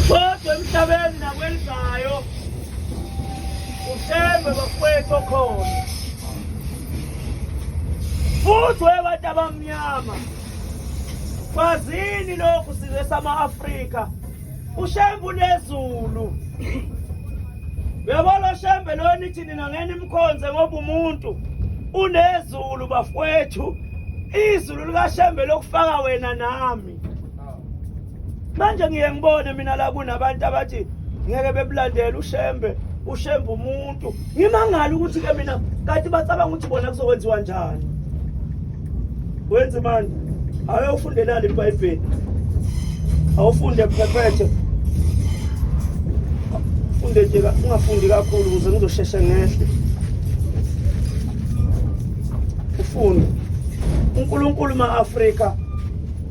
Kodwa emhlabeni nakwenzayo uthembe bakwethu okhona futhi webantu abamnyama kwazini lokhu size sama-afrika ushembe unezulu uyabona oshembe loyo nithi nina ngena imkhonze ngoba umuntu unezulu bafowethu izulu likashembe lokufaka wena nami manje ngiye ngibone mina la kunabantu abathi ngeke bebulandele ushembe ushembe umuntu ngimangala ukuthi ke mina kanti bacabanga ukuthi bona kuzokwenziwa njani wenze mani awe ufundelani ibhayibheli awufunde phephethe funde nje ungafundi kakhulu ukuze ngizosheshe ngehle ufunde unkulunkulu ma-afrika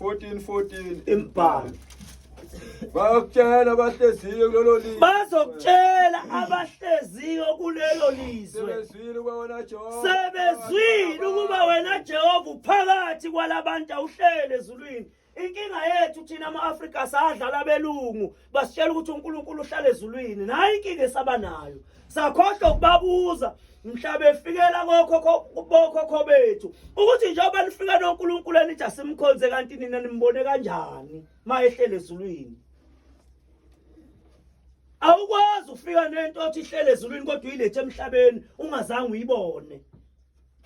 14 14 imbhalo bayokutshela abahleziyo kulelo lizwe bazokutshela abahleziyo kulelo lizwe sebezwile ukuba wena Jehova sebezwile ukuba wena Jehova uphakathi kwalabantu awuhlele ezulwini inkinga yethu thina ama-afrika sadlala belungu basitshela ukuthi uNkulunkulu uhlala ezulwini nayi inkinga esabanayo sakhohlwa ukubabuza mhla befikela kokhokho bethu ukuthi njengoba nifika noNkulunkulu enithi asimkhonze kanti nina nimbone kanjani ma ehlele ezulwini awukwazi ufika nento othi ihlele ezulwini kodwa uyilethe emhlabeni ungazange uyibone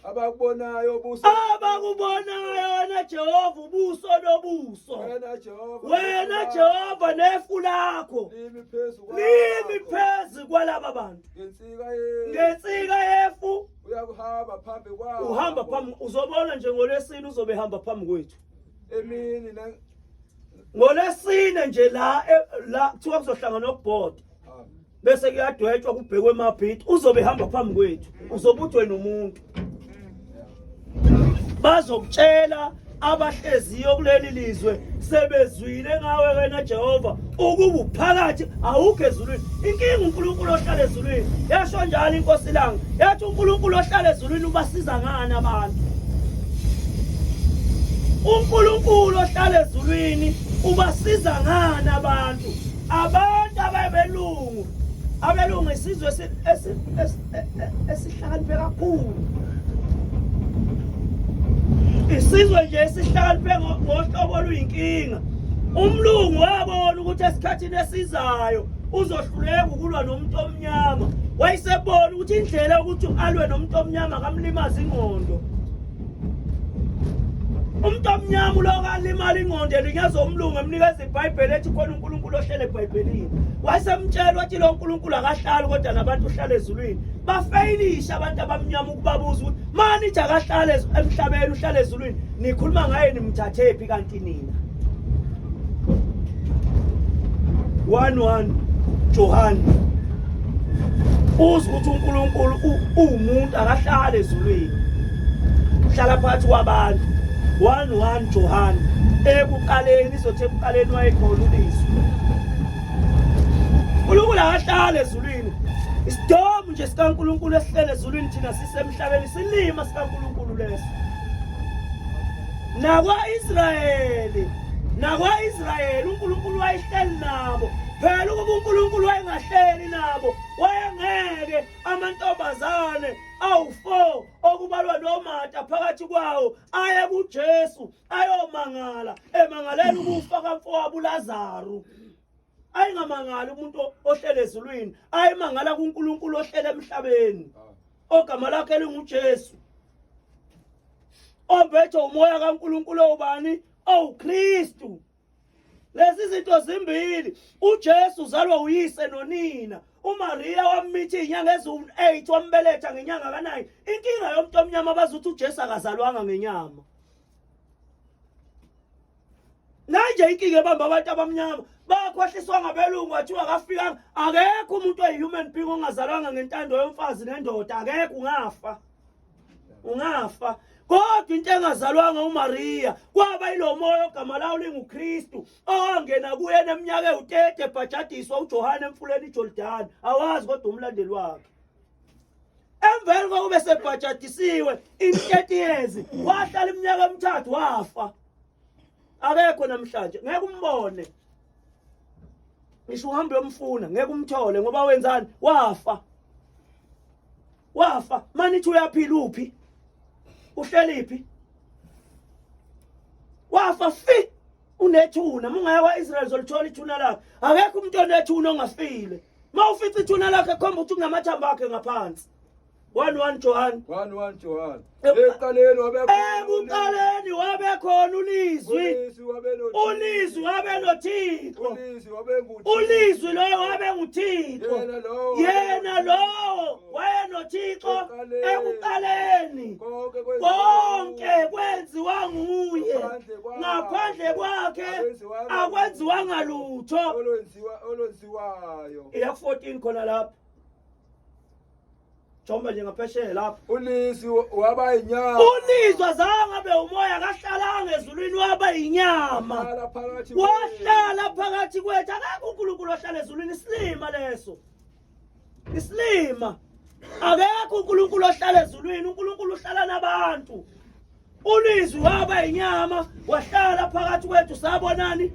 abakubonayo ubuso abakubonayo wena Jehova ubuso lobuso wena Jehova wena Jehova nefu lakho limi phezu kwalaba limi phezu kwalaba bantu ngensika yefu ngensika yefu uyakuhamba phambi kwabo uhamba phambi uzobona nje ngolesini uzobe hamba phambi kwethu emini na ngolesine nje la e, la kuthiwa kuzohlangana okubhoda bese kuyadwetshwa kubhekwe emabhithi uzobe ehamba phambi kwethu uzobe uthi wena umuntu bazokutshela abahleziyo kuleli lizwe sebezwile ngawe wena Jehova ukuba uphakathi awukho ezulwini inkinga uNkulunkulu ohlala ezulwini yasho njalo inkosi langa yathi uNkulunkulu ohlala ezulwini ubasiza ngani abantu uNkulunkulu ohlala ezulwini ubasiza ngani abantu Abantu ababelungu abelungu isizwe esihlakaniphe kakhulu isizwe nje esihlakaniphe ngohlobo oluyinkinga umlungu wabona ukuthi esikhathini esizayo uzohluleka ukulwa nomuntu omnyama wayesebona ukuthi indlela yokuthi alwe nomuntu omnyama kamlimaza ingqondo umuntu omnyama ulokalimala ingqondo elinyeza umlungu emnikeza ibhayibheli ethi khona unkulunkulu ohlele ebhayibhelini wayesemtshela wathi lo nkulunkulu akahlali kodwa nabantu uhlala ezulwini bafeyilisha abantu abamnyama ukubabuza ukuthi manithi akahlale emhlabeni uhlale ezulwini nikhuluma ngaye nimthathephi kanti nina one one Johan uze ukuthi uNkulunkulu uwumuntu akahlale ezulwini uhlala phakathi kwabantu one one Johan ekuqaleni izothi ekuqaleni wayekhona ubizo uNkulunkulu akahlale ezulwini isidomu nje sikaNkulunkulu esihlele ezulwini thina sisemhlabeni silima sikaNkulunkulu leso nakwa-israyeli nakwa-israyeli unkulunkulu wayehleli nabo phela ukuba unkulunkulu wayengahleli nabo wayengeke amantombazane awu-four okubalwa nomata phakathi kwawo aye kujesu ayomangala emangalela ukufa kamfowabo ulazaru ayingamangali umuntu ohlele ezulwini ayimangala kuNkulunkulu ohlele emhlabeni ah. ogama lakhe linguJesu ombethe umoya kaNkulunkulu obani owuKristu lezi zinto zimbili uJesu uzalwa uyise nonina uMaria wammitha izinyanga eziwu-8 wambeletha ngenyanga ka-9 inkinga yomuntu omnyama bazuthi uJesu akazalwanga ngenyama nanje inkinga ebamba abantu abamnyama bakhohliswa ngabelungu wathiwa kafikanga akekho umuntu oyi-human being ongazalwanga ngentando yomfazi nendoda akekho ungafa ungafa kodwa into engazalwanga umariya kwaba yilo moya ogama lawo lingukristu owangena kuyena eminyaka ewu-30 ebhajadiswa ujohane emfuleni ijordani awazi kodwa umlandeli wakhe emveni kokube sebhajadisiwe in-30 years wahlala iminyaka emithathu wafa akekho namhlanje ngeke umbone ngisho uhambe uyomfuna ngeke umthole ngoba wenzani wafa wafa manithi uyaphila uphi uhleliphi wafa fi unethuna mungaye kwa-israyeli zolithola ithuna lakhe akekho umuntu onethuna ongafile uma ufica ithuna lakhe khomba ukuthi kunamathambo akhe ngaphansi one one Johan one one Johan ekuqaleni wabekuqaleni wabekhona ulizwi ulizwi wabe nothixo ulizwi loyo wabe nguthixo yena lowo wayenothixo ekuqaleni konke kwenziwa nguye ngaphandle kwakhe akwenziwanga lutho iya 14 khona lapho Jomba nje ngaphesheya lapho. Unisi waba inyama. Unisi wazange abe umoya akahlalanga ezulwini waba inyama. Wahlala phakathi kwethu akakho uNkulunkulu ohlala ezulwini isilima leso. Isilima. Akekho uNkulunkulu ohlala ezulwini, uNkulunkulu uhlala nabantu. Ulizwi waba inyama wahlala phakathi kwethu sabonani?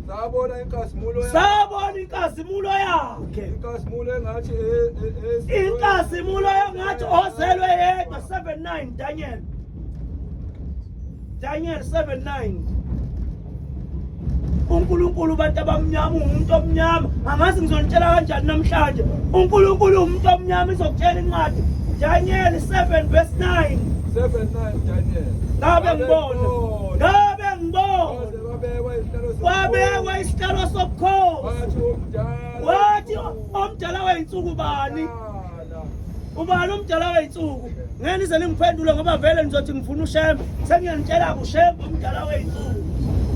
Sabona inkazimulo yakhe. Sabona inkazimulo yakhe. Inkazimulo engathi e- e- e- Inkazimulo engathi ozelwe yedwa 79 Daniel. Daniel 79. uNkulunkulu abantu abamnyama ungumuntu omnyama angazi ngizonitshela kanjani namhlanje uNkulunkulu umuntu omnyama izokutshela incwadi Daniel 7 verse 9 7 9 Daniel ngabe ngibona ngabe ngibona wabekwa isihlalo sobukhosi wathi omdala weyinsuku bani ubani umdala wey'nsuku ngeke nize ningiphendule ngoba vele nizothi ngifuna ushembe sengiyanitshela-ke ushembe umdala wey'nsuku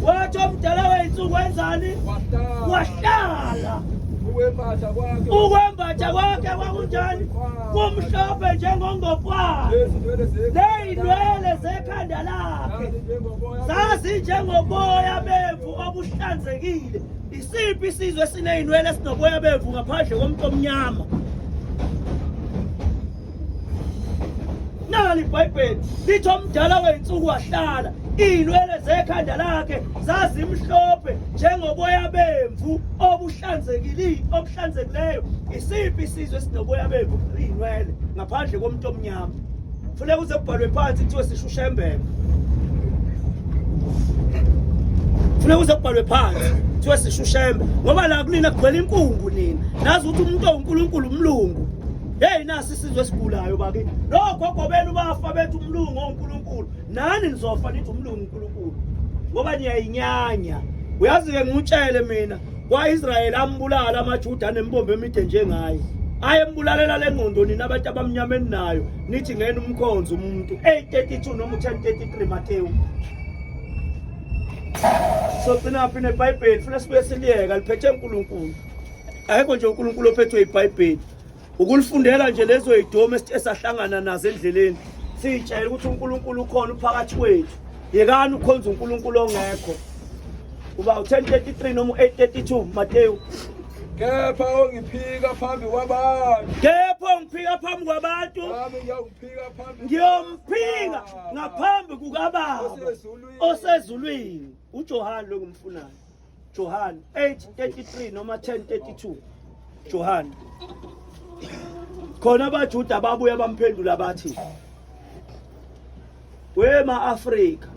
wathi omdala wey'nsuku wenzani wahlala ukwembatha kwakhe kwakunjani kumhlophe njengongopwana ley'nwele zekhanda lakhe zazinjengoboya bemvu obuhlanzekile Isiphi isizwe esinezinwele esinoboya bevu ngaphandle komuntu omnyama? Nali iBhayibheli lithi omdala weyinsuku wahlala, izinwele zekhanda lakhe zazimhlophe njengoboya bemvu obuhlanzekile obuhlanzekileyo. Isiphi isizwe esinoboya bemvu izinwele ngaphandle komuntu omnyama? Funeka uze kubhalwe phansi kuthiwe sisho ushembeka. Funeka uze kubhalwe phansi kuthiwe sisho ushembe ngoba la kunina kugcwele inkungu nina. Nazi ukuthi umuntu owuNkulunkulu umlungu. Hey nasi isizwe esigulayo bakithi. Logogo benu bafa bethu umlungu oNkulunkulu. Nani nizofa nithi umlungu uNkulunkulu. Ngoba niyayinyanya. Uyazi ke ngikutshele mina Kwa-Israyeli ambulala amaJuda anembombo emide njengaye. Ayembulalela le ngqondo nina abantu abamnyama eninayo nithi ngena umkhonzi umuntu 832 noma 1033 Matewu. So gcina phi neBhayibheli funa sibuye siliyeka liphethe uNkulunkulu. Ayikho nje uNkulunkulu ophethwe iBhayibheli. ukulifundela nje lezo yidomu esahlangana nazo endleleni siyitshayela ukuthi uNkulunkulu ukhona uphakathi kwethu yekani ukhonza uNkulunkulu ongekho uba u-1033 noma u-832 Mateyu kepha ongiphika phambi kwabantu kepha ongiphika phambi kwabantu ngiyomphika ngaphambi kukababa osezulwini ujohane lo ngimfunayo Johan 8:33 noma 10:32 Johan khona abajuda babuya bamphendula bathi wema Afrika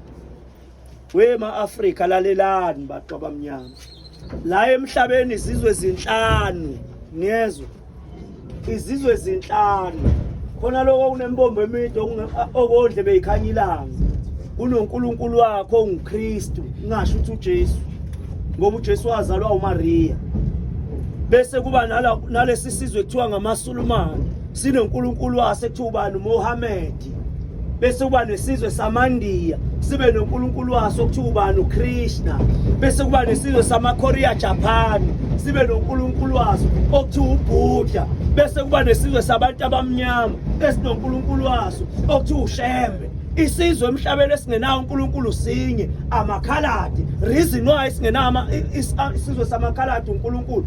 wema Afrika lalelani baqa bamnyama la emhlabeni izizwe ezinhlanu niyezwa izizwe ezinhlanu khona lokho kunembombo emide okondle beyikhanya ilanga unonkulunkulu wakho ongukristu ngasho ukuthi ujesu ngoba ujesu wazalwa umariya bese kuba nalesi sizwe kuthiwa ngamasulumane sinonkulunkulu wase kuthiwa ubani umohammed bese kuba nesizwe samaNdiya sibe noNkulunkulu waso okuthiwa ubani uKrishna bese kuba nesizwe samaKorea Japan sibe noNkulunkulu waso okuthiwa uBuddha bese kuba nesizwe sabantu abamnyama esinoNkulunkulu waso okuthiwa uShembe isizwe emhlabeni esingenawo uNkulunkulu sinye amakhaladi reason why singenawo isizwe samakhaladi uNkulunkulu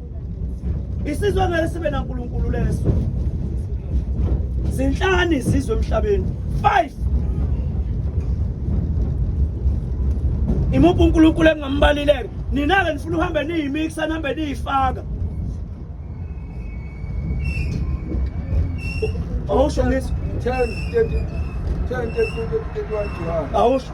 isizwe ngeke sibe nankulunkulu leso zinhlanu izizwe emhlabeni five imuphi unkulunkulu engingambalileke nina-ke nifuna uhambe niyimikisa nihambe niyifaka awusho ngithi awusho